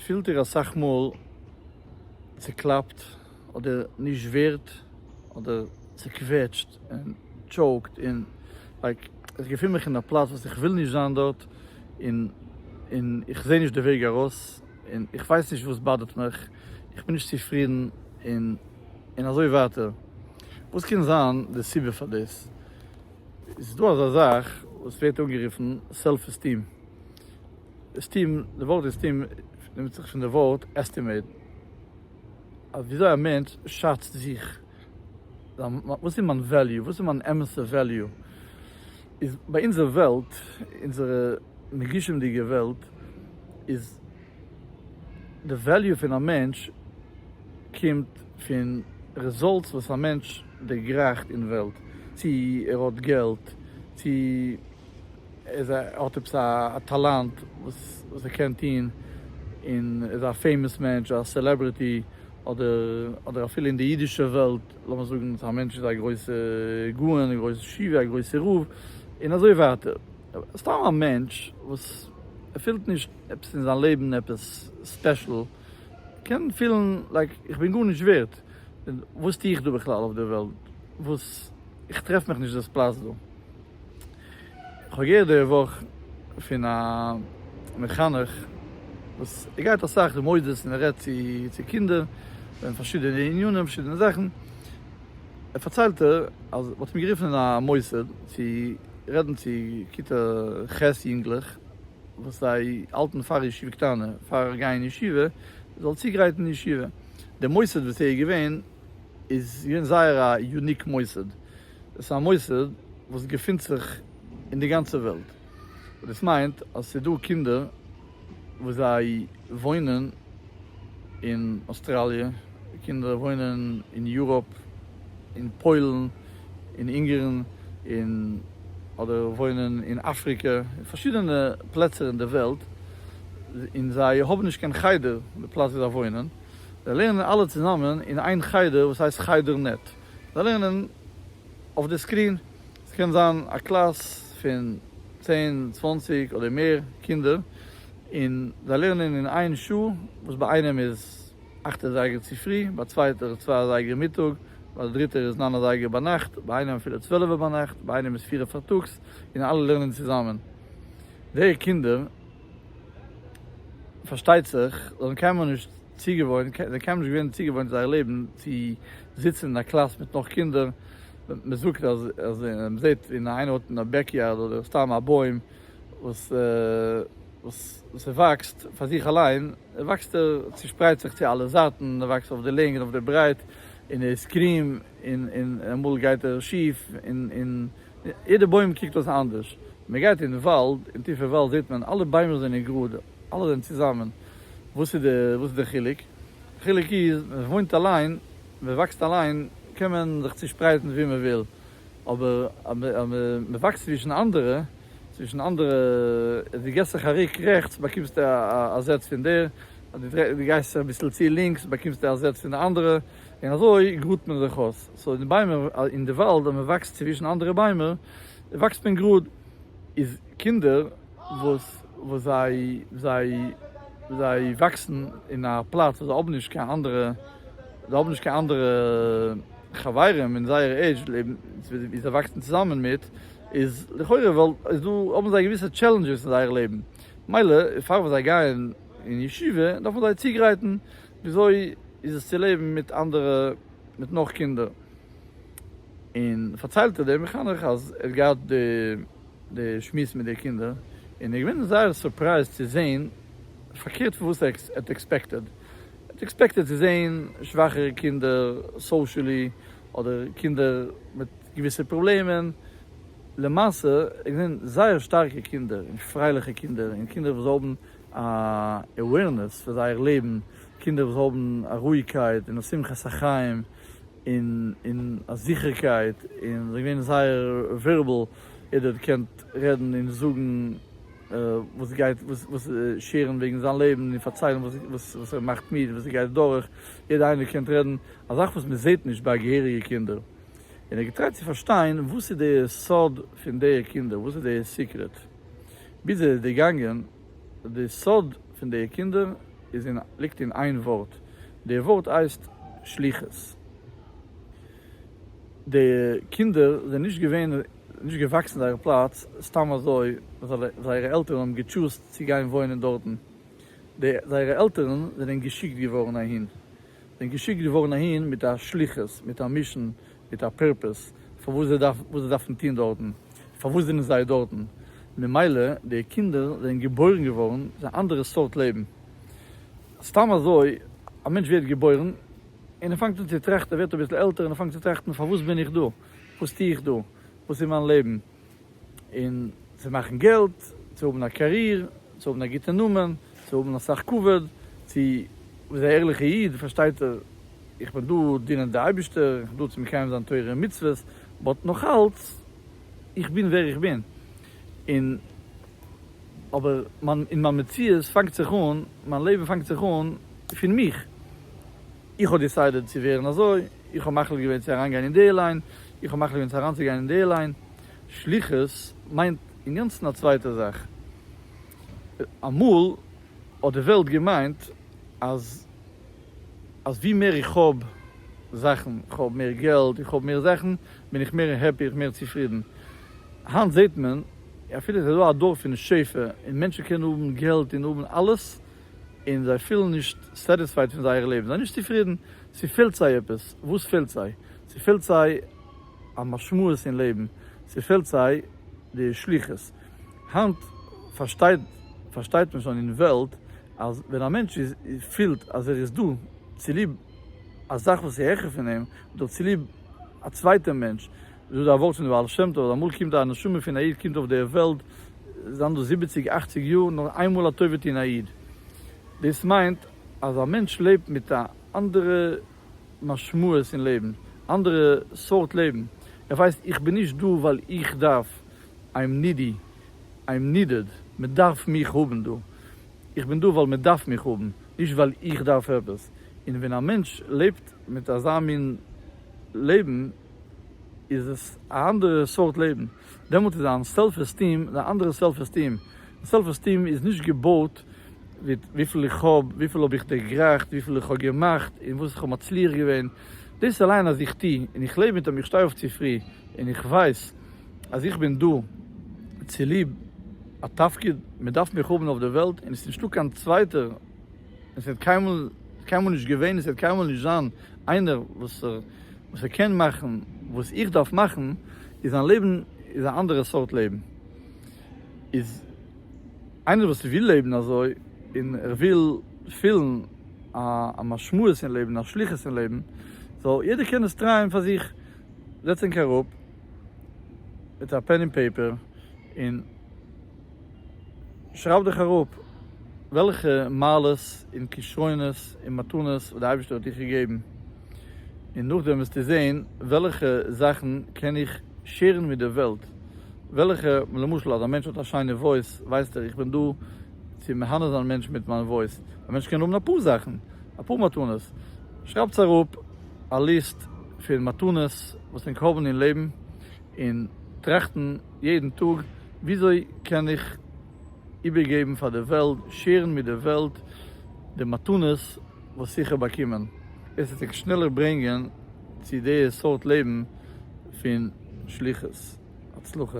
פילט איר אסאך מאל צוקלאפט אדער נישט ווערד אדער צוקוועטשט און טשאוקד און לייק איך געפין מיך אין א פלאץ וואס איך וויל נישט זיין דארט און און איך זעה נישט די וועג ארויס און איך ווייס נישט וואס באדערט מיך איך בין נישט צופרידן און און אזוי ווייטער וואס קען זיין די סיבה פאר דאס איז דא אזא זאך וואס ווערט אנגערופן סעלף עסטיעם. עסטים, די ווארט עסטים נעמט זיך פון די ווארט עסטימעיט, אז ווי אזוי א מענטש שאצט זיך, וואס איז מיין וועליו, וואס איז מיין אמת'ע וועליו, איז ביי אונזער וועלט, אונזערע מגושם'דיגע וועלט, איז די וועליו פון א מענטש קומט פון רעזאלטס וואס א מענטש דערגרייכט אין וועלט, צו ער האט געלט, צו. ער האט עפעס א טאלאנט וואס ער קען טון, און ער איז א פעימאס מענטש, א סעלעברעטי, אדער אפילו אין די אידישע וועלט, לאמיר זאגן אז א מענטש איז א גרויסע גאון, א גרויסע שיווי, א גרויסע רב, און אזוי ווייטער. סתם א מענטש וואס ער פילט נישט עפעס אין זיין לעבן עפעס ספעשל, קען פילן לייק איך בין גארנישט ווערט, וואס טו איך דא בכלל אויף די וועלט, וואס איך טרעף מיך נישט דאס פלאץ דא. כ'האב געהערט די וואך פון א מחנך וואס ער גייט אסאך די מוסדות און ער רעדט צו צו קינדער וועגן פארשידענע ענינים פארשידענע זאכן, פארציילט ער אז מ'האט אים גערופן אין א מוסד צו רעדן צו כיתה ח' יונגלעך וואס זיי האלטן פאר ישיבה קטנה פאר גייען ישיבה זאל צוגרייטן ישיבה, די מוסד וואס ער איז געווען איז געווען זייער א יוניק מוסד. עס איז א מוסד וואס געפינט זיך אין די גאנצע וועלט, און דאס מיינט אז עס איז דא קינדער וואס זיי וואוינען אין אויסטראליע, קינדער וואוינען אין יוראפ, אין פוילן, אין אונגערן, און אדער וואוינען אין אפריקע, אין פארשידענע פלעצער אין די וועלט, און זיי האבן נישט קיין חדר, די פלאץ ווי זיי וואוינען, זיי לערנען אלע צוזאמען אין איין חדר וואס הייסט חדר נעט. זיי לערנען אויף די סקרין, ס'קען זיין א קלאס פון צען צוואנציג אדער מער קינדער, און זיי לערנען אין איין שעה, וואס ביי איינעם איז אכט אזייגער צופרי, ביי צווייטער איז צוויי אזייגער מיטאג, ביי די דריטער איז נײַן אזייגער ביינאכט, ביי איינעם אפילו צוועלעווע ביינאכט, ביי איינעם איז פיר פארטאגס, און אלע לערנען צוזאמען. די קינדער פארשטייט זיך זאלן קיינמאל נישט. צוגעוואוינט, זיי קיינמאל נישט געווען צוגעוואוינט אין זייער לעבן צו זיצן אין א קלאס מיט נאך קינדער, מען זאגט אז אז מען זעט אין איינער האט אין א בעק יארד אדער סתם א בוים וואס וואס ס'וואקסט פאר זיך אליין, וואקסט ער צושפרייט זיך צו אלע זייטן, ער וואקסט אויף די לענג און אויף די ברייט, און ער איז קרום, און און אמאל גייט ער שיף, און און יעדע בוים קוקט אויס אנדערש, מען גייט אין וואלד, אין טיפע וואלד זעט מען אלע ביימער זענען גראד, אלע זענען צוזאמען, וואס איז די וואס איז די חילוק? די חילוק איז ווען מען וואוינט אליין, מען וואקסט אליין, קען מען זיך צושפרייטן ווי מען וויל, אבער אז מען וואקסט צווישן אנדערע, צווישן אנדערע, אז דו געסט זיך א ריק רעכטס באקומסטו א זעץ פון דער, אז דו דרייסט דו גייסט זיך אביסל צו לינקס באקומסטו א זעץ פון די אנדערע, און אזוי גראדט מען זיך אויס. סאו אין די ביימער אין די וואלד אז מען וואקסט צווישן אנדערע ביימער וואקסט מען גראד. איז קינדער וואס זיי זיי זיי וואקסן אין א פלאץ וואס זיי האבן נישט קיין אנדערע זיי האבן נישט קיין אנדערע חברים אין זייער עידזש לעבן ווי זיי וואקסן צוזאמען מיט איז לכאורה ווייל איז דא האבן זיי געוויסע טשעלענדזשעס אין זייער לעבן מילא פאר וואס זיי גייען אין ישיבה דארף מען זיי צוגרייטן וויאזוי איז עס צו לעבן מיט אנדערע מיט נאך קינדער. און פארציילט דער מחנך אז ער האט געהאט די שמועס מיט די קינדער און ער איז געווען זייער סורפרייזד צו זעהן פארקערט פון וואס ער האט עקספעקטעד, ער האט עקספעקטעד צו זעהן שוואכערע קינדער סאושעלי אדער קינדער מיט געוויסע פראבלעמען, למעשה ער האט געזעהן זייער שטארקע קינדער און פרייליכע קינדער און קינדער וואס האבן א עווערנעס פאר זייער לעבן, קינדער וואס האבן א רואיגקייט און א שמחת החיים. און און א זיכערקייט און זיי געווען זייער ווערבעל ער האט געקענט רעדן און זאגן וואס גייט וואס שערן וועגן זיין לעבן און פארציילן וואס וואס וואס ער מאכט מיט וואס ער גייט דורך יעדע איינער קענט רעדן א זאך וואס מען זעט נישט ביי געהעריגע קינדער און ער האט געטרייט צו פארשטיין וואס איז די סוד פון די קינדער וואס איז די סיקרעט ביז ער איז דערגאנגען די סוד פון די קינדער איז אין ליגט אין איין ווארט, די ווארט הייסט שליחות. די קינדער זענען נישט געווען נישט געוואקסן זייער פלאץ סתם אזוי, זייערע עלטערן האבן געטשוזט צו גיין וואוינען דארטן, די זייערע עלטערן זענען געשיקט געווארן אהין, זענען געשיקט געווארן אהין מיט א שליחות, מיט א מישן, מיט א פורפעס פארוואס זיי דארפן וואס זיי דארפן טון דארטן, פארוואס זענען זיי דארטן, ממילא די קינדער זענען געבוירן געווארן צו א אנדערע סארט לעבן, סתם אזוי א מענטש ווערט געבוירן און ער פאנגט אן צו טראכטן, ער ווערט אביסל עלטער און ער פאנגט צו טראכטן פארוואס בין איך דא, וואס טו איך דא, וואס איז מיין לעבן. און צו מאכן געלט, צו האבן א קאריר, צו האבן א גוטע נאמען, צו האבן אסאך כבוד, צו איז א ערליכע איד פארשטייט ער איך בין דא דינען די אייבישטער, איך בין דא צו מקיים זיין תורה און מצוות, באט נאכאלץ איך בין ווער איך בין, און אבער מיין אין מיין מציאות פאנגט זיך אן, מיין לעבן פאנגט זיך אן פון מיך. איך האב דיסיידעד צו ווערן אזוי, איך האב מחליט געווען צו אריינגיין אין די ליין, איך האב מחליט געווען צו אריינצוגיין אין די ליין, שליחות מיינט אינגאנצן א צווייטע זאך, אמאל האט די וועלט געמיינט אז אז ווי מער איך האב זאכן, איך האב מער געלט, איך האב מער זאכן, בין איך מער העפי, איך מער צופרידן, היינט זעט מען אפילו ס'איז דא א דור פון שפע און מענטשן קענען האבן געלט און האבן אלעס, און זיי פילן נישט סעטיספייד פון זייער לעבן, זיי נישט צופרידן, ס'פעלט זיי עפעס, וואס פעלט זיי? ס'פעלט זיי א משמעות אין לעבן, ס'פעלט זיי די שליחות, היינט פארשטייט פארשטייט מען שוין אין וועלט אז ווען א מענטש איז פילט אז ער איז דא צוליב א זאך וואס איז העכער פון אים, אדער צוליב א צווייטע מענטש, וויאזוי א ווארט פון די בעל שם טוב אז אמאל קומט א נשמה פון א איד קומט אויף די וועלט זיין דא זיבעציג אכציג יאר נאר איינמאל א טובה טון א איד דאס מיינט אז א מענטש לעבט מיט א אנדערע משמעות אין לעבן אנדערע סארט לעבן ער ווייסט איך בין נישט דא ווייל איך דארף איים נידי איים נידעד מען דארף מיך האבן דא איך בין דא ווייל מען דארף מיך האבן נישט ווייל איך דארף עפעס און ווען א מענטש לעבט מיט אזא מין לעבן. איז עס א אנדערע סארט לעבן, דעמאלט איז דיין סעלף עסטיעם א אנדערע סעלף עסטיעם, סעלף עסטיעם איז נישט געבויט מיט וויפיל איך האב, וויפיל האב איך דערגרייכט, וויפיל איך האב געמאכט, און וואס איך האב מצליח געווען, דאס אליין אז איך טוה און איך לעב מיט דעם איך שטיי אויף צופרי און איך ווייס אז איך בין דא צוליב א תפקיד, מען דארף מיך האבן אויף די וועלט און עס איז נישטא קיין צווייטער. עס וועט קיינמאל קיינמאל נישט געווען עס וועט קיינמאל נישט זיין איינער וואס וואס ער קען מאכן וואס איך דארף מאכן איז זיין לעבן איז א אנדערע סארט לעבן איז איינער וואס וויל לעבן אזוי און ער וויל פילן א א משמעות אין לעבן א שליחות אין לעבן זאל יעדער קען עס טרייען פאר זיך זעץ ענק אראפ מיט א פען און פעיפער און. שרייב דיך אראפ וועלכע מעלות און כשרונות און מתנות וואס די אייבערשטער האט דיך געגעבן, און נאכדעם וועסטו זען וועלכע זאכן קען איך שעירן מיט די וועלט, וועלכע למשל אז א מענטש האט א שיינע וואויס ווייסט ער איך בין דא צו מהנה זיין מענטשן מיט מיין וואויס, א מענטש קען האבן אפאר זאכן, אפאר מתנות, שרייבטס אראפ א ליסט פון מתנות וואס ענק האבן אין לעבן און טראכטן. יעדן טאג, וויאזוי קען איך איבערגעבן פאר די וועלט, שעירן מיט די וועלט די מתנות וואס איך האב באקומען, עס וועט ענק שנעלער ברענגען צו די סארט לעבן פון שליחות. הצלחה.